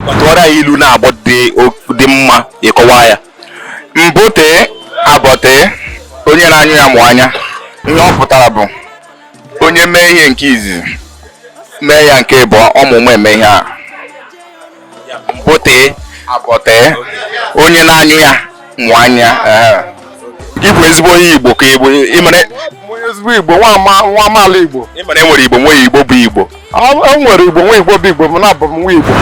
tụọrọ anyị ilu naabọ dị mma ị kọwaa ya mbụ tee abọ tee onye na-anyụ ya mụ anya ihe ọ pụtara bụ onye mee ihe nke izizi mee ya nke ịbụọ ọ ma ụma eme ihe a mbụ tee abọ tee onye na-anyụ ya mụ anya ị bụ ezigbo onye igbo ka ị bụ ịmara ezigbo igbo nwa amaala igbo ịmara enwere igbo nwee igbo bụ igbo enwere igbo nwee igbo bụ igbo mana abụ m nwa igbo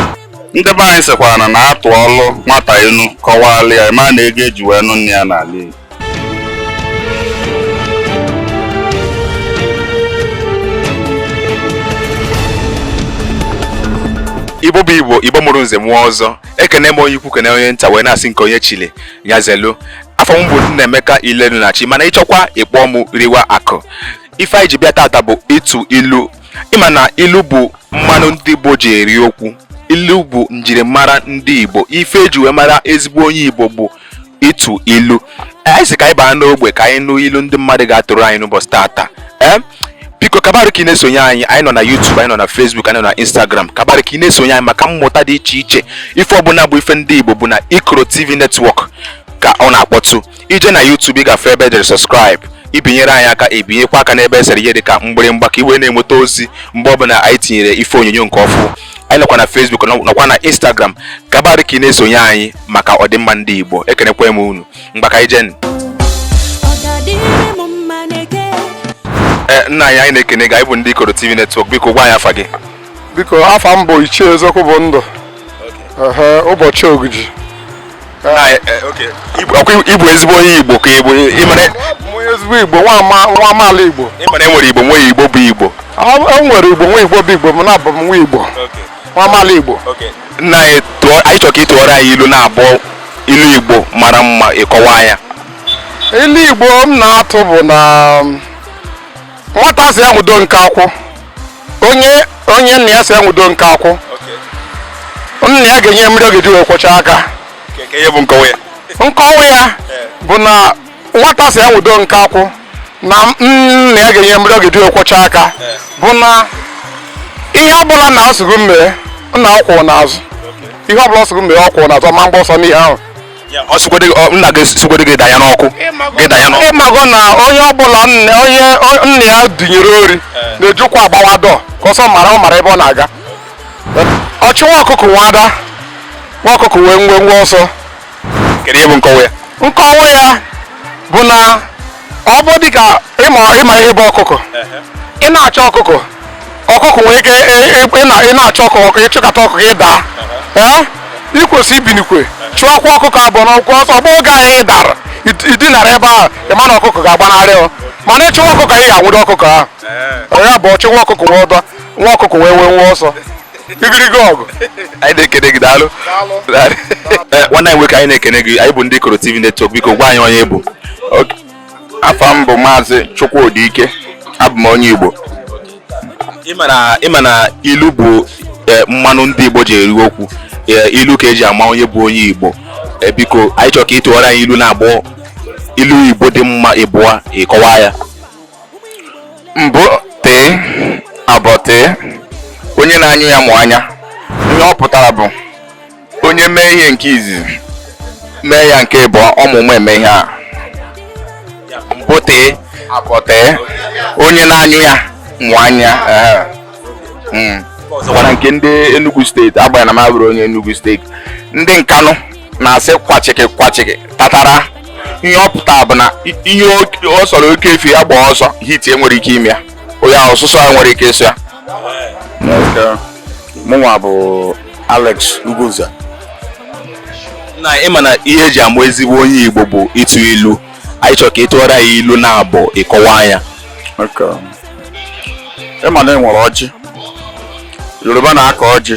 ndị be anyị sịkwara na atụọlụ nwata inu kọwalụ ya ma na ego eji wee nụ nne ya n'ala igbo igbo bụ igbo igbo mụrụ nze mụọ ọzọ ekene m onye ukwu kene onye nta wee na-asị nke onye chili nya zelu afa m bụ Nnaemeka Ilenunachi mana ị chọkwa ị kpọọ m riwa akụ ife anyị ji bịa tata bụ ịtụ ilu ị ma na ilu bụ mmanụ ndị Igbo ji eri okwu ilu bụ njirimara ndị Igbo ife eji wee mara ezigbo onye Igbo bụ ịtụ ilu anyị sị ka anyị baa n'ogbe ka anyị nụ ilu ndị mmadụ ga-atụrụ anyị n'ụbọchị tata ee biko kabarụ ka ị na-esonye anyị anyị nọ na YouTube anyị nọ na Facebook anyị nọ na Instagram kabarụ ka ị na-esonye anyị maka mmụta dị iche iche ife ọbụla bụ ife ndị Igbo bụ na Ikoro TV Network ka ọ na-akpọtụ i jee na YouTube ị gafe ebe edere subscribe i binyere anyị aka i binyekwa aka n'ebe esere ihe dị ka mgbịrịmgba ka i wee na-enweta ozi mgbe ọbụla anyị tinyere ife onyonyo nke ọfụ anyị nọkwa na Facebook nọkwa na Instagram gabarị ka ị na-esonye anyị maka ọdịmma ndị Igbo ekenekwa m unu mgbaka ijenu eh, nna anyị anyị na-ekene gị anyị bụ ndị Ikoro TV Network biko gwa anyị afa gị biko afa m bụ Ichie Eziokwu bụ ndụ ụbọchị ogiji ị bụ ezigbo onye igbo ka ị bụ ezigbo igbo nwa amaala igbo ịmara enwere igbo nwee igbo bụ igbo enwere igbo nwee igbo bụ igbo mana abụ m nwa igbo nwa amaala igbo nna anyị chọrọ ka ị tụọrọ anyị ilu naabọ ilu igbo mara mma ị kọwaa ya ilu igbo m na-atụ bụ na um, nwata sị ya nwudo nkakwụ onye onye nna ya sị ya nwudo nkakwụ nna ya ga-enye ya mmiri ọ ga-eji wee kwọcha aka Ke- ke ihe bụ nkọwa ya nkọwa ya bụ na nwata sị ya nwudo nkakwụ na nna ya ga-enye mmiri ọ ga-eji wee kwọcha aka bụ na ihe ọbụla nna sị gị mee nna ọ kwụrụ n'azụ ihe ọbụla ọ sị gị mee ọ kwụrụ n'azụ ma agba ọsọ n'ihe ahụ ọ sịgodu gị ọ- nna gị sịgodu gị danye n'ọkụ gị danye n'ọkụ ị mago na onye ọbụla nne onye o- nna ya dunyere ori na-eji ụkwụ agbawa door cause ọ mara ọ mara ebe ọ na-aga ọchụ nwa ọkụkọ nwe ada nwa ọkụkọ nwe nwenwe ọsọ kedu ihe bụ nkọwa ya nkọwa ya bụ na ọ bụ dịka ịma ịma ihe bụ ọkụkọ ị na-achụ ọkụkọ ọkụkọ nwere ike ị- ị- ị na- ị na-achụ ọkụkọ ọkụ ị chụkata ọkụkọ ị daa ee ikwesị ibinikwe chụọkwa ọkụkọ abụọ n'ọkụ ọsọ ọ bụ oge ahụ ị dara id- idinara ebe ahụ ị ma na ọkụkọ ga-agbanarị ọ mana ịchụwa ọkụkọ ị ga-anwụdo ọkụkọ ahụ ya bụ ọchụ nwa ọkụkọ nwe ada nwa ọkụkọ nwe nwenwe ọsọ igirigi ọgụ anyị na-ekene gị daalụ eh, nwanne anyị nwoke anyị na-ekene gị anyị bụ ndị Ikoro TV Network biko gwa anyị onye ị bụ afa m bụ maazị Chukwudi Ike abụ m onye Igbo ịma na ilu bụ eh, mmanụ ndị Igbo ji eri okwu eh, ilu ka eji ama onye bụ onye Igbo biko anyị chọrọ ka ị tụọrọ anyị ilu naabọ ilu Igbo dị mma ịbụọ ị kọwaa ya mbụ tee abụọ tee onye na-anyụ ya mụ anya ihe ọ pụtara bụ onye mee ihe nke izizi mee ya nke ịbụọ ọmụmụ eme ihe a mbụ tee abụọ tee onye na-anyụ ya mụ anya hmm. ọzọkwara nke ndị Enugu steeti agbanyeghị na m abụrọ onye Enugu steeti ndị Nkanụ na-asị kwachịkị kwachịkị tatara ihe ọ pụtara bụ na i- ihe o- ọ sọrọ oke efi ya gbaa ọsọ heat enwere ike ime ya onye ahụ ọsụsọ ya nwere ike ịsụ ya Nke mụnwa bụ Alex Ugoza na ịma na ihe eji ama ezigbo onye igbo bụ ịtụ ilu anyị chọrọ ka ị tụọrọ anyị ilu naabọ ị kọwaa anyị ya Nke ịma na enwere ọjị Yoruba na-akọ ọjị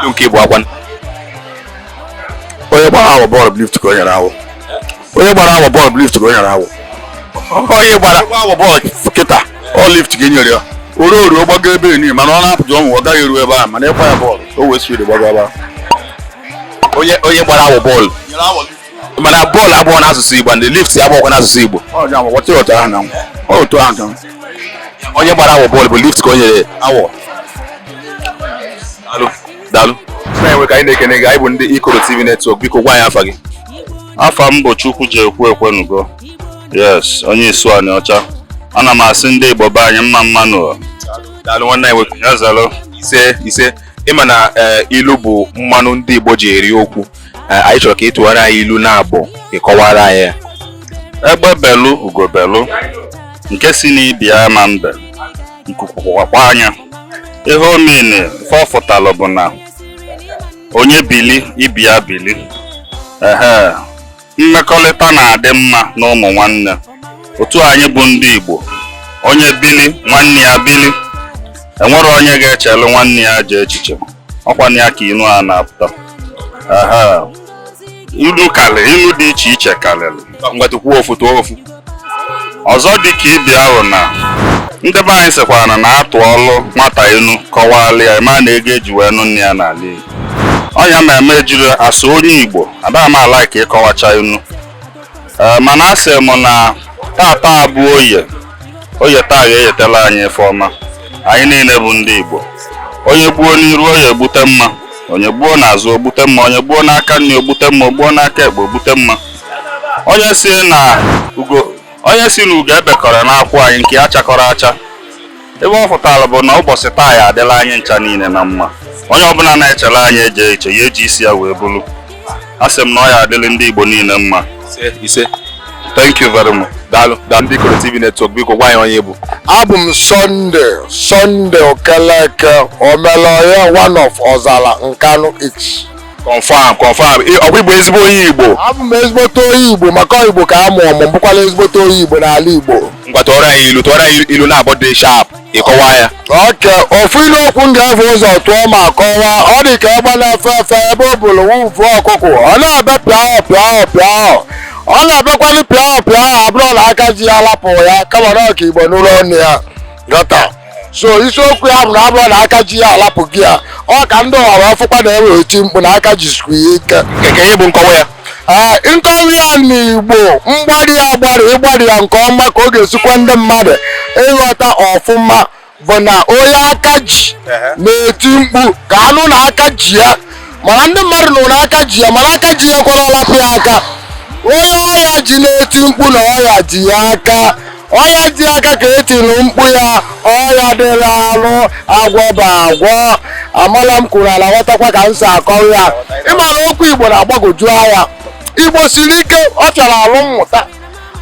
ndụ nke ịbụọ kwa onye gbara awọ bọọlụ bụ lift ka o nyere awọ onye gbara awọ bọọlụ bụ lift ka o nyere awọ onye gbara awọ bọọlụ kịta ọ lift ka o nyere ya ore ore ọ gbago ebe enyi mana ọ na-apụta ọnwụ ọ gaghị eru ebe a mana ị kwaa ya bọọlụ o wee siri gbago ebe onye gbara awọ bọọlụ mana bọọlụ abụrọ n'asụsụ Igbo and lift abụrọkwa n'asụsụ Igbo onye gbara awọ bọọlụ bụ lift ka o nyere awọ daalụ nwoke anyị na-ekene gị anyị bụ ndị Ikoro TV Network biko gwa anyị afa gị afa m bụ Chukwujekwu Ekwenugo yes onye Isuaniocha ana m asị ndị Igbo be anyị mma mma nụ daalụ nwanne anyị nwoke ya zalụ ise ise ịma na eh, ilu bụ mmanụ ndị Igbo ji eri okwu eh, anyị chọrọ ka ị tụwara anyị ilu naabọ ka ị kọwara anyị ya. egbe belu ugo belu nke si n'ibe ya ama ebe nku kwakwaa ya ihe ọ mean ife ọ fụtalụ bụ na onye bili ibe ya bili ehe mmekọlịta na-adị mma na ụmụ nwanne otu anyị bụ ndị Igbo onye bili nwanne ya bili enwero onye ga-echelu nwanne ya ajọ echiche ọkwanụ ya ka inu a na-apụta inu kalịlị inu dị iche iche kalịlị ngwa tụkwuo ofu tụọ ofu ọzọ dị ka ị bịa hụ na ndị be anyị sịkwara na atụọlụ nwata inu kọwalụ ya ma na ego eji wee nụ nne ya n'ala Igbo ọnya ma eme ejiri asụ onye Igbo adịghị m ala ka ịkọwacha inu ee mana asị m na tata bụ oye oye taa ga-eyetela anyị ife ọma anyị niile bụ ndị Igbo onye gbuo n'iru onye egbute mma onye gbuo n'azụ ogbute mma onye gbuo n'aka nri ogbute mma ogbuo n'aka ekpe ogbute mma onye sị na ugo onye sị na ugo ebekọrọ n'akwụ anyị nke ya chakọrọ acha ebe ọ fụtara bụ na ụbọchị taa ya adịla anyị ncha niile na mma onye ọbụla na-echere anyị ajọ iche ya eji isi ya wee buru a sị m na ọ ya adịrị ndị Igbo niile mma ise thank you very much daalụ daalụ ndị Ikoro TV network biko gwa anyị onye ị bụ abụ m Sunday Sunday okeleke omelọya one of ọzala nkanụ East confam confam ọkwa ị bụ ezigbo onye igbo abụ m ezigbote onye igbo maka igbo ka a mụrụ m bụkwala ezigbote onye igbo n'ala igbo ngwa tụọrọ anyị ilu tụọrọ anyị ilu naabọ dị sharp ịkọwa ya okay ofu ilu okwu m ga-evu ụzọ tụọ ma kọwaa ọ dị ka egbe na-efe efe ebe o bulu ofu ọkụkụ ọ na-ebe pịahụ pịahụ pịahụ ọ na-ebekwanụ pịahụ pịahụ abụrọ na aka ji ya lapụ ya kama na ọ ka igbo nụlụ onu ya ghọta so isiokwu ya bụ na abụrọ na aka ji ya alapụ gị ya ọ ka ndị ọhara ọfụkwa na-ewe eti mkpu na aka jisikwu ya ike nke ihe bụ nkọwa ya ee nkọwa ya n'igbo mgbari ya agbari ịgbari ya nke ọma ka ọ ga-esi kwe ndị mmadụ ịghọta ọfụma bụ na onye aka ji na-eti mkpu ka a nụ na aka ji ya mana ndị mmadụ nụrụ na aka ji ya mana aka ji ya ekwerọ alapụ ya aka onye ọya ji na-eti mkpu na ọya ji ya aka ọya ji aka ka etiri mkpu ya ọya dị n'arụ agwọba agwọ amala m kwuru a na-aghọtakwa ka m si akọrọ ya ịma na okwu igbo na-agbagoju anya igbo siri ike ọ chọrọ alụ mmụta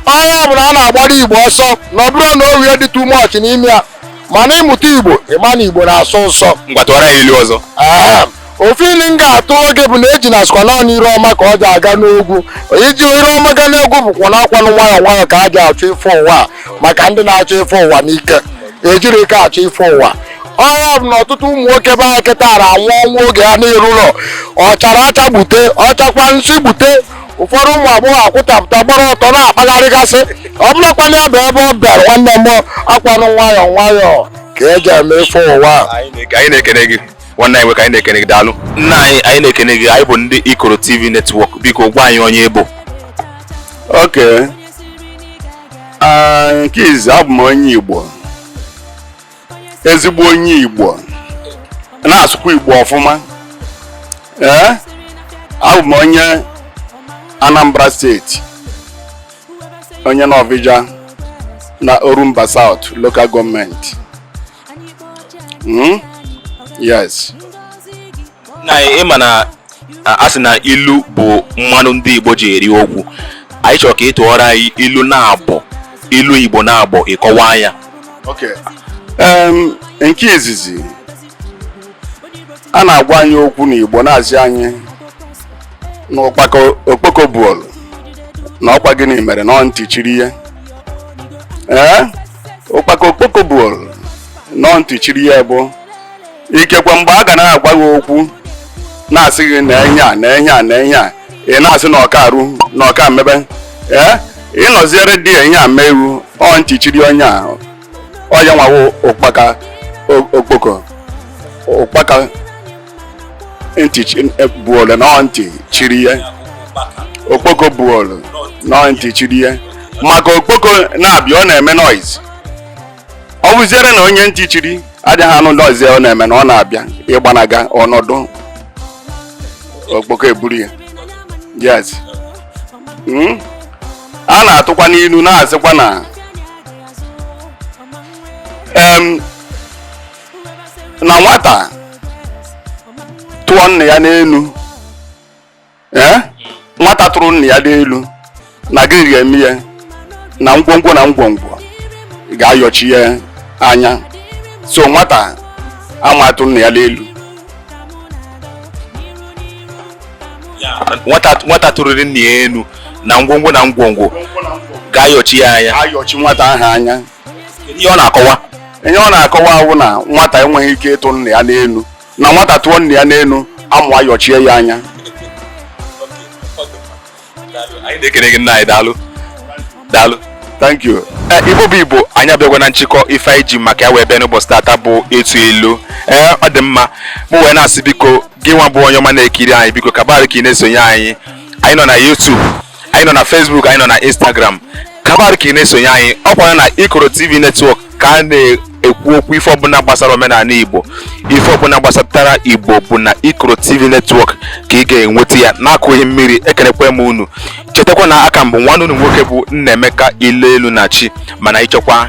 ọ ya bụ na a na-agbara igbo ọsọ na ọ bụrụ na o rie dị too much n'ime ya mana ịmụta igbo ịma na igbo na-asọ ụsọ ngwa tụwara anyị ilu ọzọ Ahem. ofu ilu m ga-atụ oge bụ na ejuna sịkwa naanị ire ọma ka o ji aga n'ogwu iji ire ọma ga n'ogwu bụkwa na ọkwanụ nwayọọ nwayọọ ka a ji achọ ife ụwa a maka ndị na-achọ ife ụwa n'ike ejirọ ike achọ ife ụwa ọ ya bụ na ọtụtụ ụmụ nwoke be anyị kịta na-anwụ ọnwụ oge ha na-erurọ ọ chara acha gbute ọ chakwa nsị gbute ụfọdụ ụmụ agbọghọ akwụtapụta gbara ọtọ na-akpagharịgasị ọ bụrọkwanụ ya bụ ebe ọ bịara nwanne m ọkwanụ nwayọọ nwayọọ ka eji eme ife ụwa a. anyị na-ekene gị nwanne anyị nwoke anyị na-ekene gị daalụ nna anyị anyị na-ekene gị anyị bụ ndị ikoro tv netwọk biko gwa anyị onye ị bụ okay ah, nke izi abụ m onye igbo ezigbo onye igbo na-asụkwa igbo ọfụma ee eh? abụ m onye anambra steeti onye nawfija na orumba south local gọọmenti Hmm? yes na ịma na a sị na ilu bụ mmanụ ndị Igbo ji eri okwu anyị chọrọ ka ị tụọrọ anyị ilu naabọ ilu Igbo naabọ ị kọwaa ya nke izizi a na-agwa anyị okwu n'Igbo na-asị anyị na okpoko buolu na ọkwa gịnị mere na ọ ntị chiri ya ee ụkpaka okpoko buolu na ọ ntị chiri ya bụ ikekwe mgbe a ga na-agwa gị okwu na-asị gị na enye a na enye a na enye a ị na-asị na ọka arụ na ọka mmebe ee ịnọziere di ya ihe a mee iwu ọ ntị chiri onye a ọ ya nwawo ụkpaka o- okpoko ụkpaka ntị e, buole na ntị chiri ya okpoko buole na ntị chiri ya maka okpoko na-abịa ọ na-eme noise ọ bụziere na onye ntị chiri adịghị anụ noise ọ na-eme na ọ na-abịa ịgbanaga ọnọdụ okpoko eburu ya yes hmm? a na-atụkwa n'ilu na-asịkwa na na nwata tụọ nna ya n'elu ee nwata tụrụ nna ya n'elu na gịnị ga-eme ya na ngwongwo na ngwongwo ga-ayọchi ya anya so nwata ama atụ nna ya n'elu nwata tụrụrị nna ya elu na ngwongwo na ngwongwo ga-ayọchi ya anya ayọchi nwata ahụ anya ihe ọ na-akọwa ihe ọ na-akọwa wụ na nwata enweghị ike ịtụ nna ya n'elu na nwata tụọ nna ya n'elu amụ ayọchie ya anya anyị na-ekene gị nna anyị daalụ daalụ thank you ee eh, igbo bụ igbo anyị abịago na nchịkọ ife anyị ji maka ya wee bịa n'ụbọchị tata bụ ịtụ ilu ee eh, ọ dị mma mụ wee na-asị biko gị nwa bụ onye ọma na-ekiri anyị biko kabara ka ị na-esonye anyị anyị nọ na YouTube anyị nọ na Facebook anyị nọ na Instagram kabar ka ị na-esonye anyị ọ kwara na Ikoro TV netwọk ka a na-ekwu okwu ife ọbụla gbasara omenanị Igbo ife ọbụla gbasatara Igbo bụ na Ikoro TV netwọk ka ị ga-enweta ya n'akụghị mmiri ekenekwa m unu chetakwa na a ka m bụ nwanne unu nwoke bụ Nnaemeka Ileelu na chi mana ị chọkwa